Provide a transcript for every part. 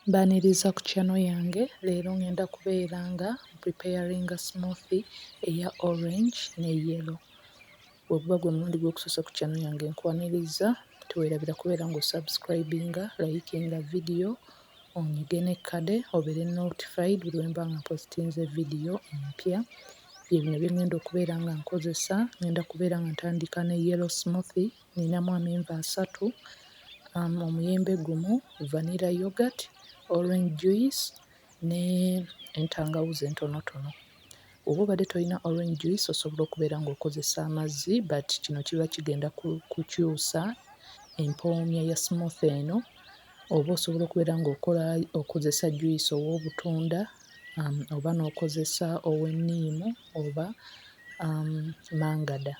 Mbaniriza ku channel yange leero ngenda kubeera nga preparinga smoothie eya orange ne yellow weguba gwe mulundi gwo kusosa ku channel yange nkwaniriza tewerabira kubeera nga osubscribinga likinga video onyige ne kade obeere notified buli wemba nga mpositinze video empya byebino byengenda okubeera nga nkozesa ngenda kubeera nga ntandika ne yellow smoothie Nninamu amenvu asatu, omuyembe gumu, vanilla yoghurt, orange juice ne entangawuzi entonotono. Bw'oba obadde tolina orange juice osobola okubeera ng'okozesa amazzi but kino kiba kigenda kukyusa empoonya ya smoothie eno oba osobola okubeera ng'okola okozesa juice ow'obutunda oba n'okozesa ow'enniimu oba mangada.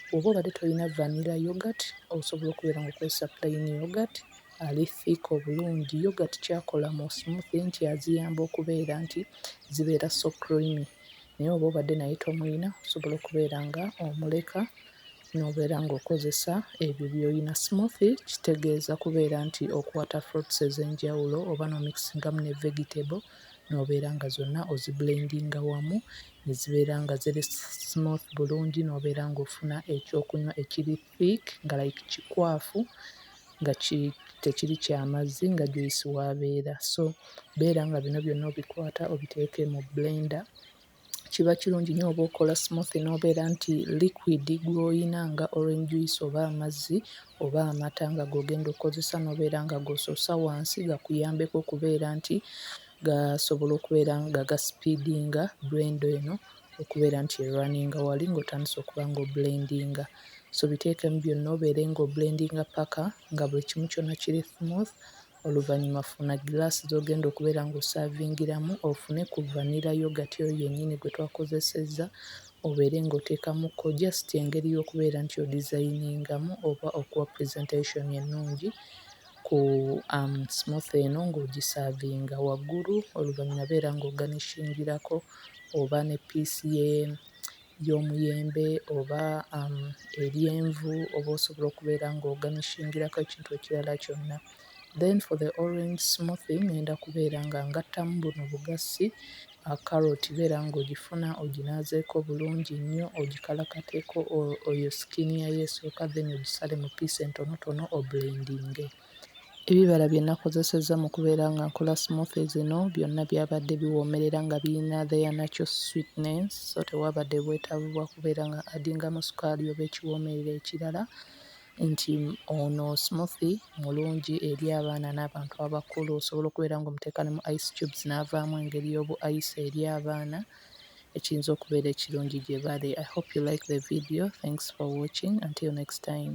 Bw'oba obadde tolina vanilla yoghurt osobola okubeera nga okozesa plain yoghurt ali thick obulungi. Yoghurt ky'akola mu smoothie nti aziyamba okubeera nti zibeera so creamy naye oba obadde naye tomulina osobola okubeera nga omuleka n'obeera ng'okozesa ebyo by'olina. Smoothie kitegeeza kubeera nti okwata fruits ez'enjawulo oba n'omikisingamu ne vegetable. n'obeera nga zonna ozibbulendinga wamu ne zibeera nga ziri smooth bulungi n'obeera ng'ofuna ekyokunywa ekiri thick nga like kikwafu nga ki tekiri kya mazzi nga juyisi w'abeera. So beera nga bino byonna obikwata obiteeke mu bbulenda kiba kirungi nnyo oba okola smoothie n'obeera nti liquid gw'oyina nga orange juice oba amazzi oba amata nga g'ogenda okkozesa n'obeera nga g'osoosa wansi gakuyambeko okubeera nti gasobola okubeera nga gasipiidinga blender eno okubeera nti erwaninga wali ng'otandise okuba ng'obulendinga. So biteekemu byonna obeere ng'obulendinga ppaka nga buli kimu kyonna kiri smooth Oluvannyuma funa giraasi z'ogenda okubeera ng'osaavingiramu ofune ku vanilla yoghurt oyo yennyini gwe twakozesezza obeere ng'oteekamuko just engeri y'okubeera nti odizayiningamu oba okuwa presentation ennungi ku um, smoothie eno ng'ogisaavinga waggulu. Oluvannyuma beera ng'oganishingirako oba ne piisi ye y'omuyembe oba eryenvu oba osobola okubeera ng'oganishingirako ekintu ekirala kyonna. Then for the orange smoothie ŋŋenda kubeera nga ngattamu buno bugassi, kkaloti beera ng'ogifuna oginaazeeko bulungi nnyo ogikalakateeko oyo skin yayo esooka then ogisale mu piisi entonotono obulendinge. Ebibala bye nakozesezza mu kubeera nga nkola smoothie zino byonna byabadde biwoomerera nga biyina their natural sweetness so tewaabadde bwetaavu bwa kubeera nga addingamu sukaali oba ekiwoomerera ekirala nti ono smoothie mulungi eri abaana n'abantu abakulu. Osobola okubeera ng'omuteeka ne mu ice cubes n'avaamu engeri y'obu ice eri abaana ekiyinza okubeera ekirungi gye bali. I hope you like the video. Thanks for watching until next time.